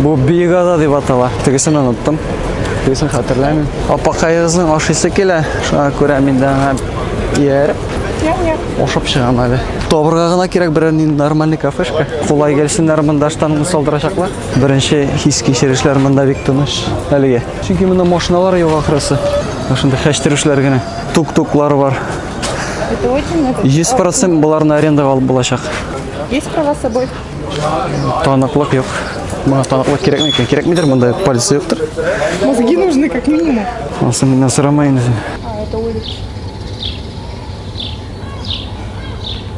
Бу биегада дип атала. Тегесен оныттым. Тегесен хәтерләмим. Апакаегызның ашыйсы килә. Шуңа күрә мин дә аңа ияреп ашап чыгам әле. Табырга гына кирәк берәр нинди нормальный кафешка. Кулай килсеннәр монда штангны салдырачаклар. Беренче хис кичерешләр монда бик тыныч әлегә. Чөнки монда машиналар юк ахрысы. Шунда хәчтерүшләр генә. Тук-туклар бар. Это очень это. 100% буларны арендага алып булачак. Есть права с собой? Таныклык юк. Моңа таныклык кирәкме икән? Кирәкмидер, монда полиция юктыр. Мозги нужны как минимум. Ансы миннән сорамай инде. А, это улица.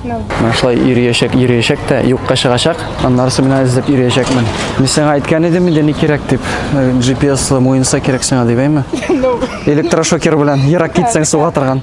Менә шулай йөриячәк, йөриячәк тә юкка чыгачак. Аннарысы менә эзләп йөриячәкмен. Мин сиңа әйткән идем инде ни кирәк дип. Э, GPS муенса кирәк сиңа дип әйме? Электрошокер белән ерак китсәң суга торган.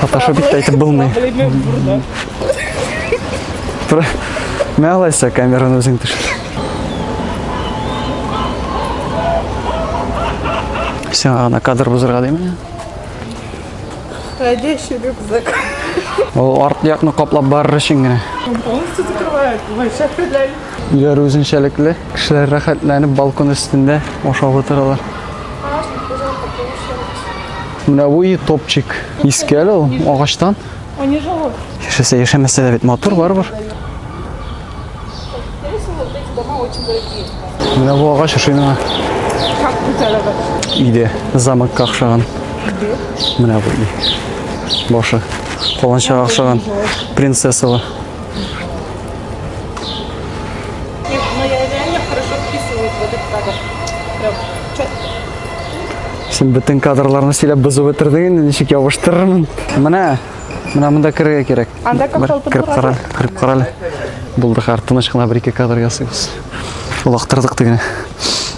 Фотошоп итә итеп булмый. Тура. Менә алайса камераны үзең төшер. Сиңа гына кадр бозырга димени? Ходящий рюкзак. Ул арт якны каплап барыр өчен генә. Полностью закрывает. Вообще хәләл. Өйләр үзенчәлекле. Кешеләр рәхәтләнеп балкон өстендә ашап утыралар. Менә бу и топчик. Иске әле ул агачтан. Они живут. Яшәсә яшәмәсә дә бит матур барыбер. Менә бу агач ошый миңа. Как гүзәл агач. Иде. Замокка охшаган. Иде. Менә бу и. Башы. Каланчага охшаган. Принцессалы. Син бөтен кадрларны сөйләп бозып бетердең инде, ничек ябыштырырмын? Менә, менә монда керергә кирәк. Анда капшалтып Кереп кара, кереп кара әле. Булды, хәр тыныч кына бер-ике кадр ясыйбыз. Олактырдык тегене.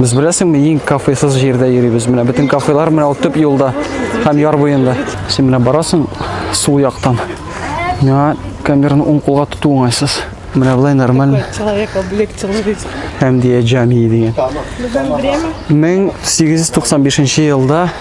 Без беләсеңме, иң кафесыз җирдә йөрибез. Менә бөтен кафелар менә ул төп юлда һәм яр буенда. Син менә барасың сул яктан. Миңа камераны уң кулга тоту уңайсыз. Менә былай нормально. Человек облегчилый. Хәмдия Җамии дигән. 1895 елда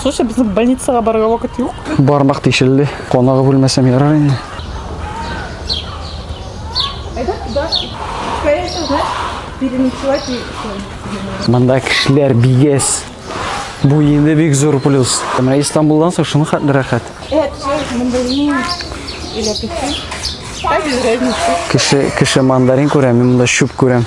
Слушай, без больницага барырга вакыт юк. Бармак тишелде. Конагы бүлмәсем ярар инде. Это туда. Скорее всего, знаешь, переночевать и все. Монда кешеләр бигез. Бу инде бик зур плюс. Менә Истанбулдан соң шуны хәтле рәхәт. Это все мандарин или апельсин. Кеше, кеше мандарин күрә, мин монда чүп күрәм.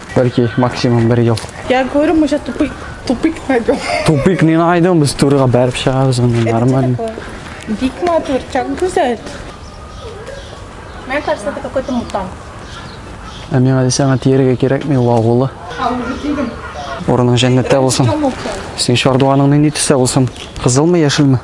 Бәлки максимум бер ел. Я говорю, мы сейчас тупик, тупик найдем. Тупик не найдем, без турыга бәреп чыгабыз аны нормально. Бик матур, так гүзәл. Мне кажется, это какой-то мутант. Ә миңа дисәң, тиергә кирәкми, вагулы. Урының җәннәттә булсын. Син чардуганың нинди төстә булсын? Кызылмы, яшелме?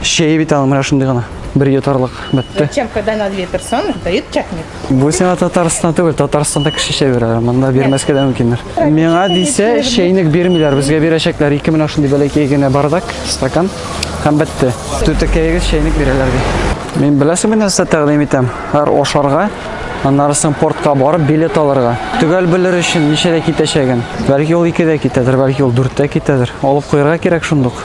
Чәй бит аны менә шундый гына. Бер йотарлык бетте. Зачем, когда на две персоны дают чатник? Бу сиңа Татарстан түгел, Татарстанда кеше чәй бирәләр, монда бирмәскә дә мөмкиннәр. Миңа дисә, чәйник бирмиләр, безгә бирәчәкләр. Ике менә шундый бәләкәй генә бардак, стакан һәм бетте. Түтәкәегез чәйник бирәләр ди. Мин беләсеңме нәрсә тәкъдим итәм? Һәр ашарга, аннары соң портка барып билет алырга. Төгәл белер өчен ничәдә китәчәген. Бәлки ул 2-дә китәдер, бәлки ул 4-тә китәдер. Алып куярга кирәк шундук.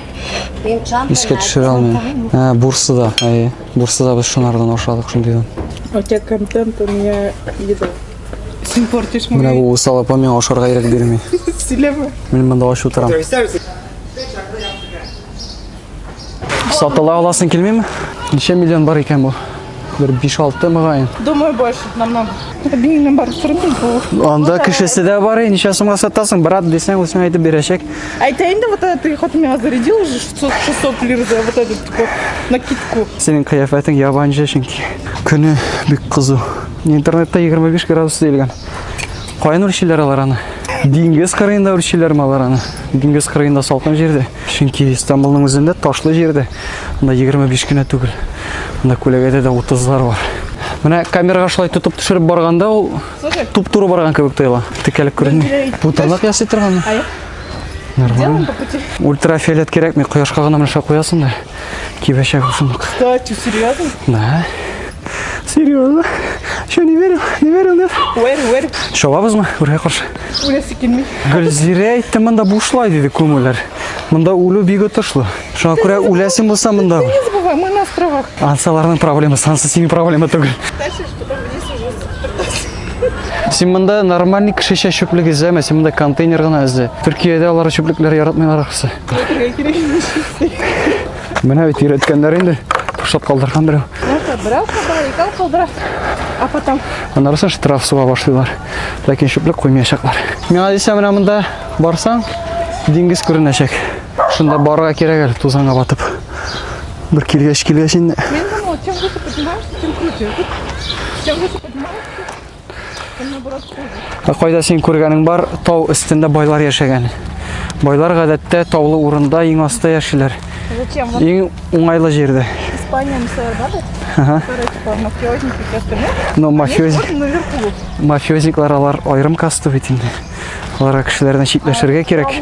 Искә төшерә алмыйм. Ә, Бурсада, әйе. Бурсада без шунардан ашадык шундыйдан. У тебя контент, у меня еда. Син портишь мой... Менә бу усал апа миңа ашарга ирек бирми. Сөйләмә. Мин монда ач утырам. Сатыла аласың килмиме? Ничә миллион бар икән бу? Бер 5-6 мөгаен. Думаю, больше намного. Биннең бар сырымыз бу. Анда кешесе дә бар, ничә сумга сатасың, брат дисәң, үзең әйтеп бирәчәк. Әйтә инде, вот это ты хоть меня зарядил уже 600 лир за вот этот вот накидку. Синең кыяфәтең ябанчы чөнки. Көне бик кызу. Интернетта 25 градус диелгән. Каян үрчиләр алар аны? Диңгез кырыенда үрчиләрме алар аны? Диңгез кырыенда салкын җирдә. Чөнки Истанбулның үзендә ташлы җирдә, монда 25 кенә түгел. Монда күләгәдә дә 30-лар бар. Менә камерага шулай тотып төшереп барганда ул туп-туры барган кебек тоела. Текәлек күренми. Бу тырнак ясый торганмы? Нормально. Ультрафиолет кирәкми, кояшка гына менә куясың да. Кибәчәк шуны. Кстати, серьезно? Да. Серьезно? Что, не верил? Не верил, нет? Верю, верю. Чабабызмы? Үргә каршы. Үләсе килми. Гөлзирә әйтте, монда бушлай диде күмүләр. Монда үлү бик отышлы. Шуңа күрә үләсең булса монда. Бывай, мы на островах. Ансаларның проблемасы, ансы синең проблема түгел. Дальше что-то вниз уже. Син монда нормальный кешечә чүплек эзләмә, син монда контейнер гына эзлә. Төркиядә алар чүплекләр яратмыйлар ахсы. Менә бит өйрәткәннәр инде. Ташлап калдырган берәү. Берәү калдыра, икәү калдыра. А потом. Анарысы штраф суга башлыйлар. Ләкин чүплек куймаячаклар. Миңа дисә менә монда барсаң, диңгез күренәчәк. Шунда барырга кирәк әле тузанга батып. Бер килгәч килгәч инде. Мин думала, чем выше поднимаешься, тем круче. Чем выше поднимаешься, Ә кайда син күргәнең бар, тау өстендә байлар яшәгән. Байлар гадәттә таулы урында иң аста яшиләр. Зачем? Иң уңайлы җирдә. Испания мисале бар бит. Ага. Мафиозники костюмы. Но мафиоз... мафиозниклар алар айрым касту бит инде. Аларга кешеләрдән читләшергә кирәк.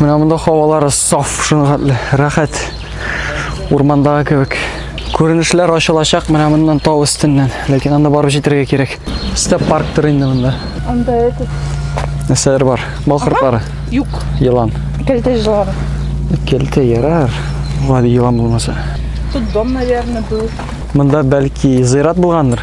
Менә монда хавалары саф, шуның хәтле рәхәт. Урмандагы кебек. Күренешләр ачылачак менә моннан тау өстеннән, ләкин анда барып җитәргә кирәк. Степ парктыр инде монда. Анда этот Нәрсәләр бар? Бал кортлары, юк, елан. кәлтә җылары. Кәлтә ярар. Гади елан булмаса. Тут дом, наверное, был. Монда бәлки зыйрат булгандыр.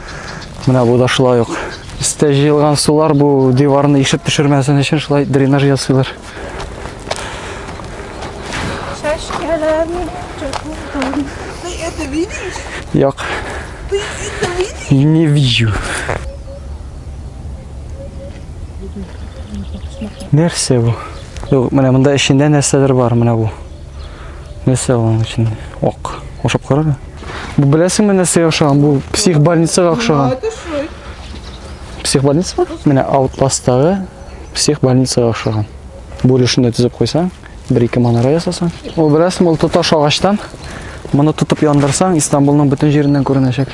Менә бу да шулай ук. Өстә җыелган сулар бу диварны ишеп төшермәсен өчен шулай дренаж ясыйлар. Чәшкәләрне чөкүдән. Ты это видишь? Як. Ты это видишь? Не вижу. Нәрсә бу? Юк, менә монда эчендә нәрсәдер бар, менә бу. Нәрсә аның өчен? Ак. Ашап карар. Бу беләсеңме нәрсә охшаган? Бу псих больницага охшаган. Псих больница? Менә Outlast-тагы псих больницага охшаган. Бүлешне төзеп куйсаң, бер-ике манара ясасаң. Ул беләсеңме, ул тоташ агачтан. Моны тотып яндырсаң, Истанбулның бөтен җиреннән күренәчәк.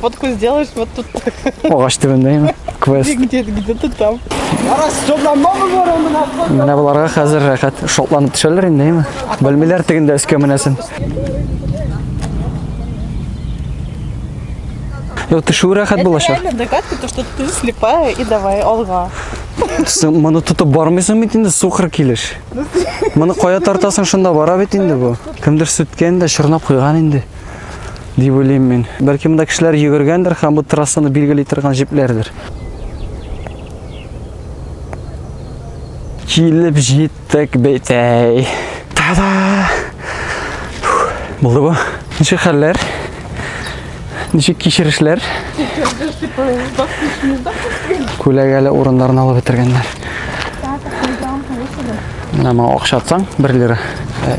Фотку сделаешь вот тут. Агач төбендәме? Квест. Где-то где-то там. Арас, шотлан мамы бар аны нахуй. Менә буларга хәзер рәхәт шотланып төшәләр инде, әйме? Белмиләр тегендә өскә менәсен. Йо, төшү рәхәт булачак. Это догадка, то, что ты слепая и давай алга. Син моны тотып бармыйсың бит инде, сукыр килеш. Моны кая тартасың, шунда бара бит инде бу. Кемдер сүткән дә, чорнап куйган инде. дип уйлыйм мин. Бәлки монда кешеләр йөгергәндер һәм бу трассаны билгели торган җепләрдер. Килеп җиттек бит әй. Та-да! Булды бу. Ничек хәлләр? Ничек кичерешләр? Күләгәле урыннарны алып бетергәннәр. Менә моңа акча атсаң, 1 лира.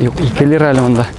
Юк, 2 лира әле монда.